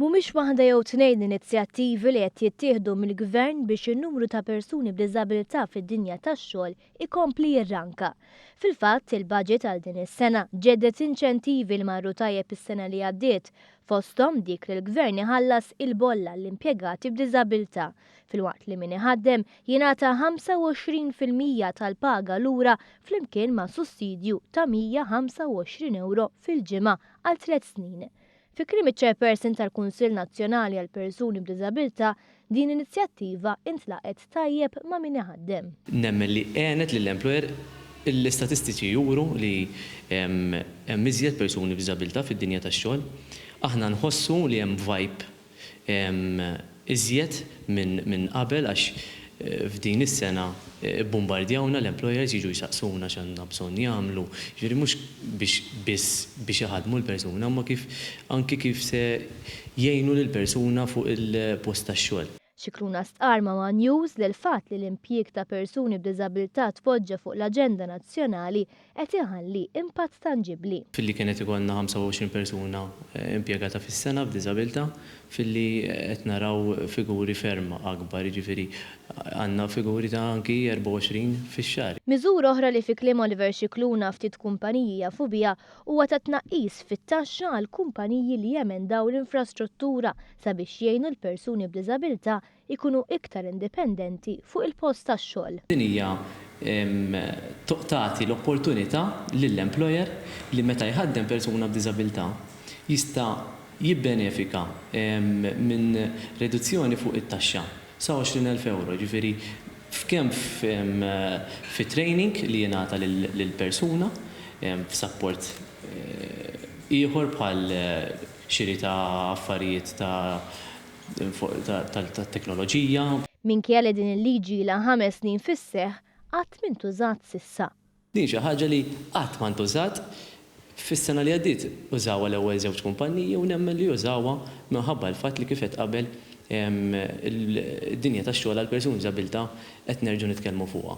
Mhumiex waħda jew tnejn l-inizjattivi li qed jittieħdu mill-Gvern biex in-numru ta' persuni b'diżabilità fid-dinja tax-xogħol ikompli jirranka. Fil-fatt, il-baġit għal din is-sena ġedded inċentivi li marru tajjeb is-sena li għaddiet, fosthom dik li l-Gvern iħallas il-bolla għall-impjegati b'diżabilità, filwaqt li min iħaddem jingħata 25 fil-mija tal-paga lura flimkien ma' sussidju ta' 125 ewro fil-ġimgħa għal tliet snin. Fi kliem iċ-Chairperson tal-Kunsill Nazzjonali għall-Persuni b'Diżabilità, din l-inizjattiva intlaqgħet tajjeb ma' min iħaddem. Nemmen li għenet lill-employer, l-istatistiċi juru li hemm iżjed persuni b'diżabilità fid-dinja tax-xogħol. Aħna nħossu li hemm vibe iżjed minn qabel għax f'din is-sena bbumbardjawna l-employers jiġu jsaqsuna x'għandna bżonn jagħmlu, jiġifieri mhux biex biss biex iħaddmu l-persuna imma kif anki kif se jgħinu lill-persuna fuq il-post tax-xogħol. Scicluna stqarr ma' one News li l-fatt li l-impjieg ta' persuni b'diżabilità tpoġġa fuq l-aġenda nazzjonali qed iħalli impatt tanġibbli. Filli kien qed ikollna 25 persuna impjegata fis-sena b'diżabilità, filli qed naraw figuri ferm akbar, jiġifieri għandna figuri ta' anki 24 fix-xahar. Miżura oħra li fi kliem Oliver Scicluna ftit kumpaniji jafu biha huwa ta' tnaqqis fit-taxxa għall-kumpaniji li jemendaw l-infrastruttura sabiex jgħinu l-persuni b'diżabilità ikunu iktar indipendenti fuq il-post tax-xogħol. Din hija tagħti l-opportunità lill-employer li meta jħaddem persuna b'diżabilità jista' jibbenefika minn riduzzjoni fuq it-taxxa sa 20,000 ewro, jiġifieri kemm fit-training li jingħata lill-persuna, f'sapport ieħor bħal xiri ta' affarijiet ta' tat-teknoloġija. Minkejja li din il-liġi ilha ħames snin fis-seħħ, qatt m'intużat s'issa. Din xi ħaġa li qatt ma ntużat. Fis-sena li għaddiet użawha l-ewwel żewġ kumpanniji u nemmen li użawha minħabba l-fatt li kif għedt qabel id-dinja tax-xogħol għall-persuni b'diżabilità qed nerġgħu nitkellmu fuqha.